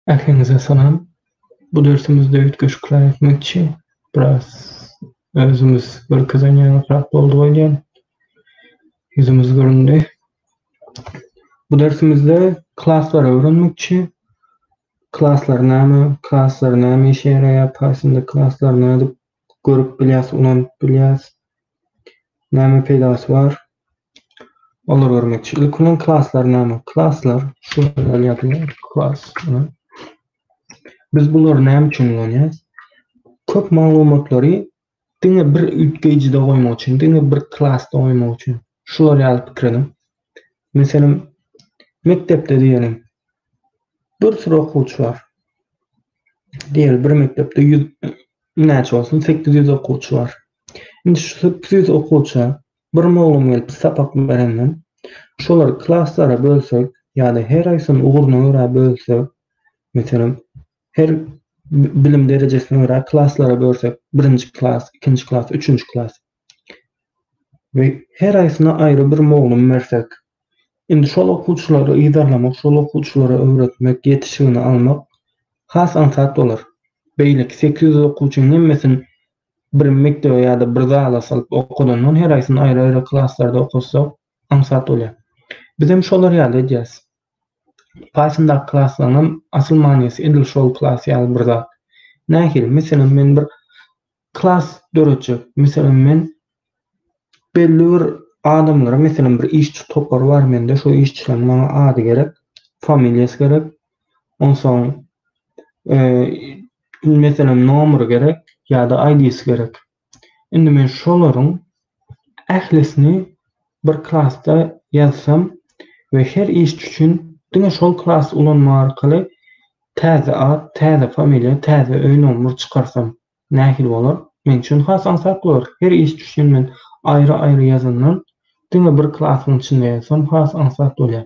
Ähliňize salam. Bu dersimizde üýtgeşikler etmekçi. Biraz özümiz görkezen ýaňyrak boldy oýdýan. Ýüzümiz göründi. Bu dersimizde klaslary öwrenmekçi. Klaslar näme? Klaslar näme işe ýaraýar? Pythonda klaslar nädip görüp bilýäs, ynanyp bilýäs. Näme peýdasy bar? Olar görmekçi. Ilki bilen klaslar näme? Klaslar şu ýerde ýazylýar. Klas. Biz bulary näme üçin ulanýarys? Köp maglumatlary diňe bir üýtgeýjide goýmak üçin, diňe bir klasda goýmak üçin. Şular ýaly pikir ediň. Meselem, mekdepde diýeliň, bir süre okuwçy bar. Diýeli, bir mekdepde ýüz näçe bolsun, sekiz ýüz okuwçy bar. Indi şu sekiz ýüz okuwça bir mugallym gelip sapak berenden, şolary klaslara bölsek ýa-da her haýsyny ugruny görä bölsek, meselem, her bilim derejesine görä klaslara bölsek, birinji klas, ikinji klas, üçünji klas. we her aýsyna aýry bir mugallym bersek, indi şol okuwçylary yzarlamak, şol okuwçylara öwretmek, ýetişigini almak has aňsat bolar. Beýleki sekiz ýüz okuwçynyň hemmesini bir mekdebe ýa-da bir zala salyp okadandan her aýsyny aýry-aýry klaslarda okatsa aňsat bolýar. Biz hem şolar ýaly edýäs. Paýtundaky klaslaryň hem asyl manysy edil şol klas ýaly bir zat. Nähili? Meselem, men bir Klas döretjek. Meselem, men belli bir adamlara, meselem, bir işçi topary bar mende, şo işçileriň maňa ady gerek, familiýasy gerek, onsoň, meselem, nomeri gerek ýa-da ID-si gerek. Indi men şolaryň ählisini bir klasda ýazsam we her işçi üçin diňe şol klasy ulanmak arkaly täze at, täze familiýa, täze öý nomeri çykarsam, Nähili bolar? Men üçin has aňsat bolar. Her iş üçin men aýry-aýry ýazandan, diňe bir klasyň içinde ýazsam has aňsat bolýar.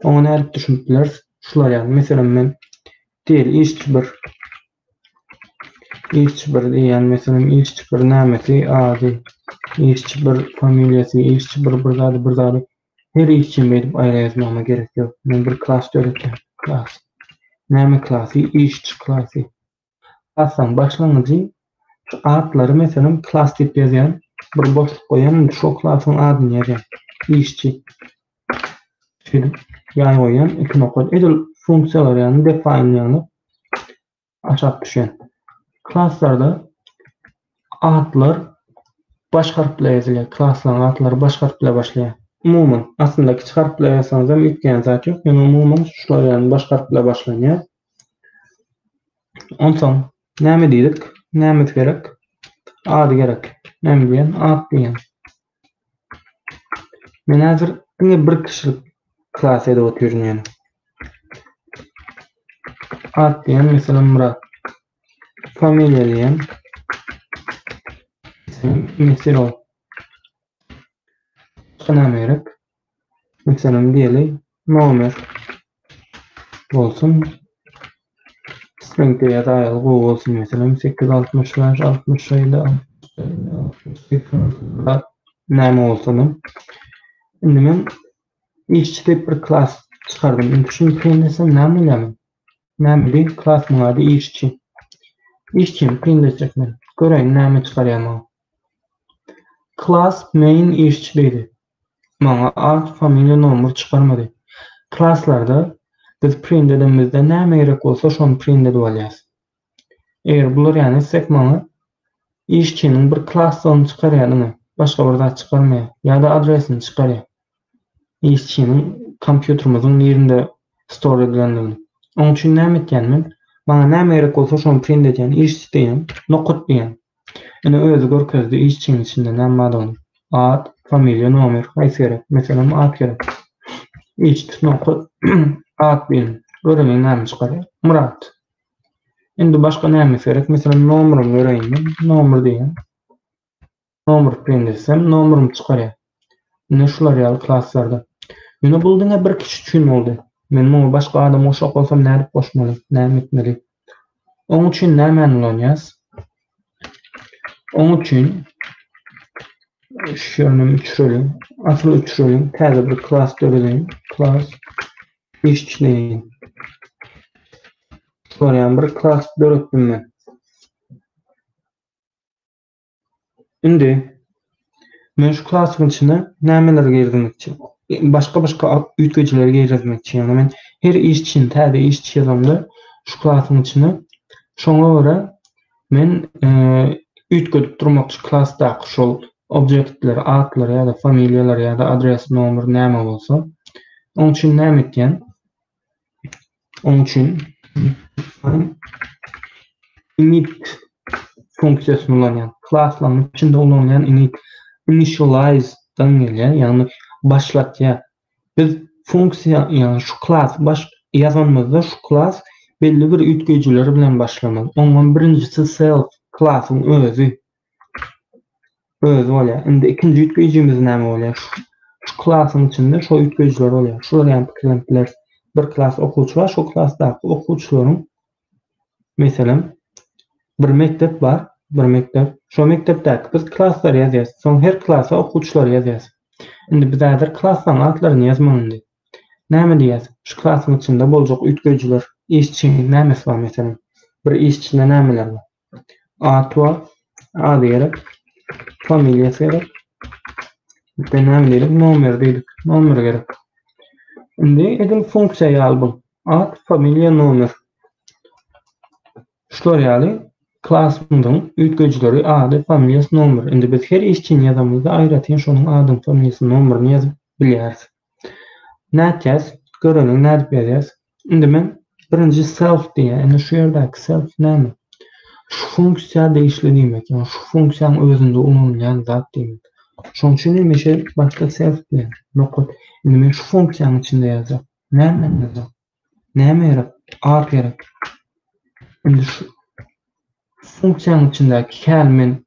Oňa nädip düşünip bileris? Şular ýaly, meselem, men diýeli işçi bir. Işçi bir diýýän, meselem, işçi bir nämesi, ady, işçi bir familiýasy, işçi bir bir zady, bir zady. Her iş üçin beýdip aýra ýazmagyma gerek ýok. Men bir klas döretýän. Klas. Näme klasy? Işçi klasy. Klasyň başlangyjy şu atlary, meselem, klas diýip ýazýan. Bir boşluk goýýan, indi şo klasyň adyny ýazýan. Işçi. Şeýdip, ýaý goýýan, iki nokat. Edil funksiýalar ýaly define ýaly aşak düşýän. Klaslarda atlar baş harp bilen ýazylýar. Klaslaryň atlary baş harp bilen başlaýar. Umuman, aslynda kiçi harp bilen ýazsaňyzam üýtgeýän zat ýok, ýöne umuman şular ýaly baş harp bilen başlanýar. Onsoň näme diýdik? Nämesi gerek? Ady gerek. Näme diýen? At diýen. Men häzir diňe bir kişilik klas edip otyryn ýöne. At diýen meselem Murat. Familiýa diýen. Sen Mesirow. Şuna gerek. Meselem diýeli nomer bolsun stringde ýa-da aýaly gowy bolsun meselem sekiz altmyş bäş altmyş şeýle näme bolsada. Indi men işçi diýip bir klas çykardym. Indi şuny peýinlesem näme bolýar? Näme diýip klasyň ady işçi. İşçini peýinlesek men. Göreýin näme çykarýar maňa. Klas main işçi diýdi. Maňa at, familiýa, nomer çykarmady. Klaslarda biz print edemizde näme gerek bolsa şony print edip alýas. Eger bular ýaly etsek maňa işçiniň bir klassyny çykarýar diňe, başga bir zat çykarmaýar. Ýa-da adresini çykarýar. Işçiniň kompýuterimiziň nirinde store edilendigini. Oň üçin näme etýän men? Maňa näme gerek bolsa şony print edýän, işçi diýýän, nokat diýýän. Ine özi görkezdi işçiň içinde näm bardygyny. At, familiýa, nomer, haýsy gerek? Meselem at gerek. Işçi nokot at diýen. Göreýin näme çykarýar. Myrat. Indi başga näme gerek? Meselem nomeryny göreýin men. Nomer diýen. Nomer print etsem nomerymy çykarýar. Ine şular ýaly klaslarda. Ýöne bul diňe bir kişi üçin boldy. Men muňa başga adam goşjak bolsam nädip goşmaly, näme etmeli? Oň üçin nämäni ulanýas? Oň üçin şu ýerden üçreliň. Asyl üçreliň. Täze bir klas dörediň. Klas işçileýin. Şular ýaly bir klas döretdim men. Indi men şu klasyň içine nämeleri girizmekçi? Başga-başga üýtgejileri girizmekçi. Ýagny men her iş üçin täze iş çyzamda şu klasyň içine şoňa görä men üýtgedip durmakçy klasdaky şol objektler, atlar ýa-da familiýalar ýa-da adres, nomer näme bolsa. Oň üçin näme etýän? Onuň üçin init funksiýasyny ulanýan. Klaslaryň içinde ulanýan init initialize-dan gelýär, ýagny başlatýar. Biz funksiýa, ýagny şu klas baş ýazanymyzda şu klas belli bir üýtgeýjiler bilen başlamaly. Oňa birinjisi self klasyň özi Özi bolýar. Indi ikinji üýtgeýjimiz näme bolýar? Şu klasyň içinde şo üýtgeýjiler bolýar. Şular ýaly pikirlenip bileris. Bir klas okuwçy bar, şo klasdaky okuwçylaryň meselem bir mekdep bar, bir mekdep. Şo mekdepdäki biz klaslary ýazýarys. Soň her klasa okuwçylary ýazýarys. Indi biz häzir klaslaryň atlaryny ýazmaly indi. Näme diýýäs? Şu klasyň içinde boljak üýtgeýjiler, işçi nämesi bar meselem? Bir işçide nämeler bar? At bar. Ady gerek. Familiýasy gerek. Bize näme gerek? Nomer diýdik. Nomer gerek. Indi edil funksiýa ýaly bu. At, familiýa, nomer. Şular ýaly klasymyzyň üýtgejileri ady, familiýasy, nomer. Indi biz her işçini ýazamyzda aýratyn şonuň adyny, familiýasyny, nomerini ýazyp bilýäris. Nätýäs? Göreliň nädip ýazýas? Indi men birinji self diýýä. Indi şu ýerdäki self näme? Şu funksiýa degişli diýmek, ýa şu funksiýaň özünde ulanylýan zat diýmek. Şoň üçin hem işe başda self diýýän. Nokat. Indi men şu funksiýanyň içinde ýazýan. Näme ýazýan? Näme gerek? Ad gerek. Indi şu funksiýanyň içindäki häl men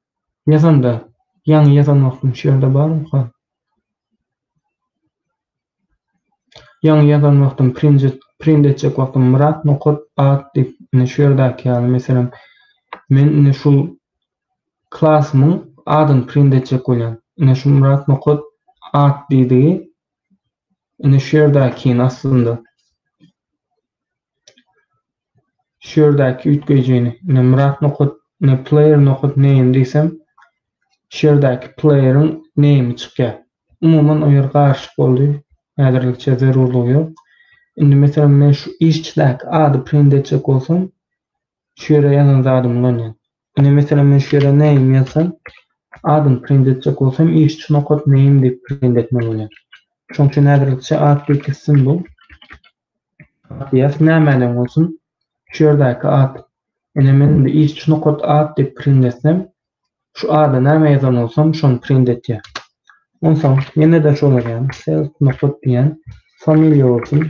ýazanda, ýaňy ýazan wagtym şu ýerde barmy? Ýaňy ýazan wagtym print etjek wagtym Myrat nokat at diýip indi şu ýerdäki ýaly meselem men indi şu klasymyň adyny print etjek bolýan. Ine şu Myrat nokat at diýdigi indi şu ýerdäkini aslynda Şu ýerdäki üýtgeýjini, ine Myrat nokat, ine player nokat name diýsem, şu ýerdäki plaýeriň name çykýar. Umuman o ýer garyşyk boldy. Häzirlikçe zerurlygy ýok. Indi meselem men şu işçidäki ady print etjek bolsam, şu ýere ýazan zadymy ulanýan. Ine meselem men şu ýere name ýazsam, adyny print etjek bolsam işçi nokat name diýip print etmeli bolýan. Şoň üçin häzirlikçe at biriksin bu. Matyas nämäleň bolsun, şu ýerdäki at. Ine, men indi iş şu nokat at diýip print etsem, şu ada näme ýazan bolsam, şony print etýär. Onsoň, ýene-de şol edýän, self nokat diýýän, familiýa bolsun,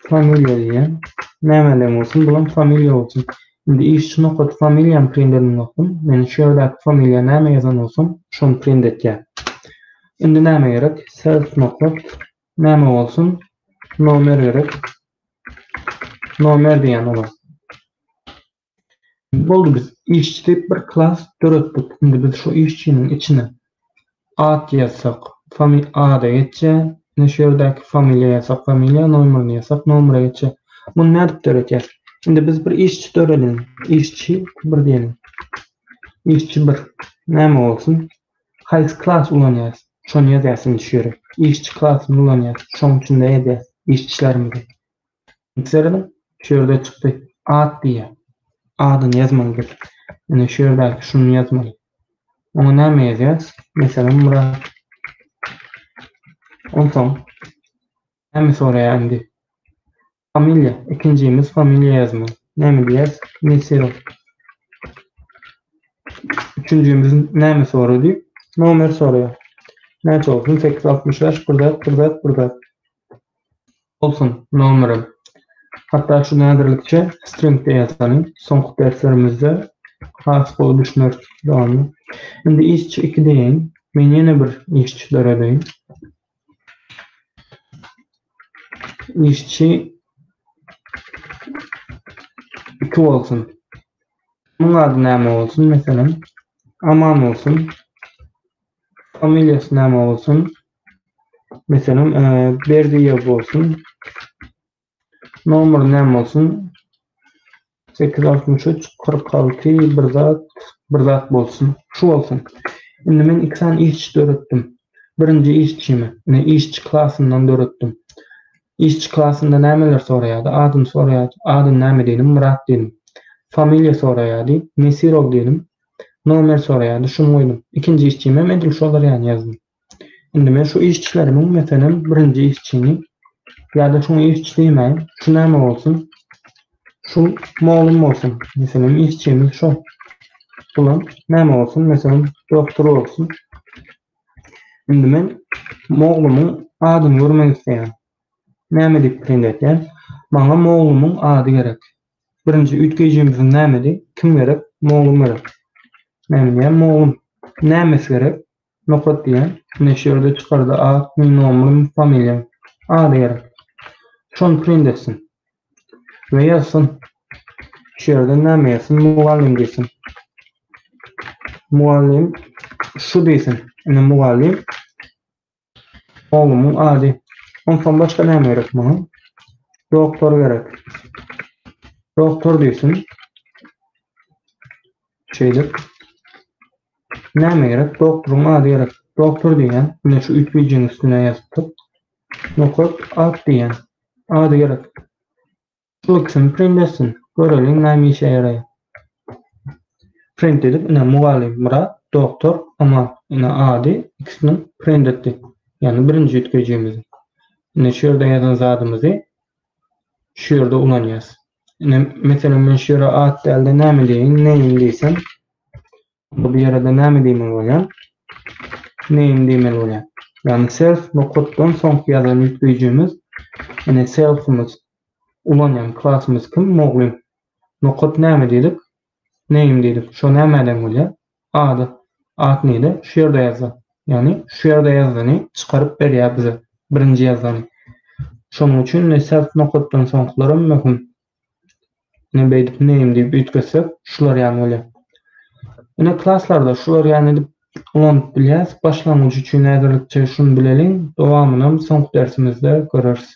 familiýa diýýän, nämäleň bolsun, bulam familiýa bolsun. Indi iş şu nokat familiýany print eden wagtym, men şu ýerdäki familiýa näme ýazan bolsam, şony print etýär. Indi näme gerek, self nokat, Näme bolsun? Nomer gerek. Nomer diýen olar. Boldy biz işçi diýip bir klas döretdik. Indi biz şu işçiniň içine at ýazsak, fami ada geçýä. Indi şu ýerdäki familiýa ýazsak, familiýa, nomerini ýazsak, nomere geçýä. Muny nädip döretýäs? Indi biz bir işçi döreliň. Işçi bir diýeliň. Işçi bir. Näme bolsun? Haýsy klasy ulanýas şony ýazýas indi şu ýere işçi klasyny ulanýas şoň içinde ýazýas iş işlerimizi indi serediň şu ýerde çykdy at diýýär adyny ýazmaly biz indi şu ýerdäki şuny ýazmaly oňa näme ýazýas meselem Myrat onsoň näme soraýar indi Familiýa, ikinjimiz familiýa ýazmaly. Näme diýýäs? Mesir. Üçünjimiz näme sorady? Nomer soraýar. Näçe bolsun? Sekiz ýüz altmyş bäş, bir zat, bir zat, bir zat. Bolsun, nomerem. Hatda şu näzirlikçe string-de ýazalyň. Soňky derslerimizde has gowy düşüneris dowamyny. Indi işçi iki diýeýin. Men ýene bir işçi döredeýin. işçi iki bolsun. Muň ady näme bolsun? Meselem, Aman bolsun. Familiýasy näme bolsun? Meselem, e, Berdiýew bolsun. Nomer näme bolsun? 863 46 bir zat bir zat bolsun. Şu bolsun. Indi men iki sany işçi döretdim. Birinji işçimi, ine işçi klasyndan döretdim. Işçi klasynda nämeler soraýardy? Adyn soraýardy. Adyn näme diýdim? Myrat diýdim. Familiýa soraýardy. Nesirow diýdim. Nomer soraýardy. Şuny goýdum. Ikinji işçimi hem edil şolar ýaly ýazdym. Indi men şu işçilerimiň, meselem, birinji işçini ýa-da şuňa işçi diýmäýin, şu näme bolsun, şu mugallym bolsun, meselem, işçimiz şol. Bulam näme bolsun, meselem, doktor bolsun. Indi men mugallymy adyny görmek isleýän. Näme diýip print etýän? Maňa mugallymy ady gerek. Birinji üýtgeýjimiz näme diýip, kim gerek? Mugallym gerek. Näme diýen? Mugallym. Näme gerek? Nokat diýen. Ine şu ýerde çykarda at, nomeriň, familiýaň. Ady gerek. Şony print etsin. We ýazsyn. Şu ýerden näme ýazsyn? Mugallym diýsin. Mugallym şu diýsin. Ine mugallym. Oglumyň ady. Onsoň başga näme gerek maňa? Doktor gerek. Doktor diýsin. Şeýdip, näme gerek? Doktoryň ady gerek. Doktor diýýän, ine şu üýtgeýjiniň üstüne ýazdyk. Nokat at diýýän. Ady gerek. Şu ikisini print etsin. Göreliň näme işe ýaraýar. Print edip, ine mugallym Myrat, doktor Aman. Ine ady ikisiniň print etdik. Ýagny birinji üýtgeýjimizi. Ine şu ýerde ýazan zadymyzy şu ýerde ulanýas. Ine, meselem, men şu ýere at däl-de, näme diýeýin, name diýsem, bu ýere-de näme diýmeli bolýan? Name diýmeli bolýan. Ýagny self nokatdan soňky ýazan ýükleyjimiz, ine selfimiz ulanýan klasymyz kim? Muglym. Nokat näme diýdik? Name diýdik. Şo nämeden bolýar? Ady. At nile? Şu ýerde ýazda. Ýagny şu ýerde ýazdyny çykaryp berýär bize. Birinji ýazany. Şonuň üçin ne self nokatdan soňkylaram möhüm. Ine beýdip name diýip üýtgetsek şular ýaly bolýar. Ine klaslarda şular ýaly edip ulanyp bilýäs. Başlangyç üçin häzirlikçe şuny bileliň. Dowamynam soňky dersimizde göreris.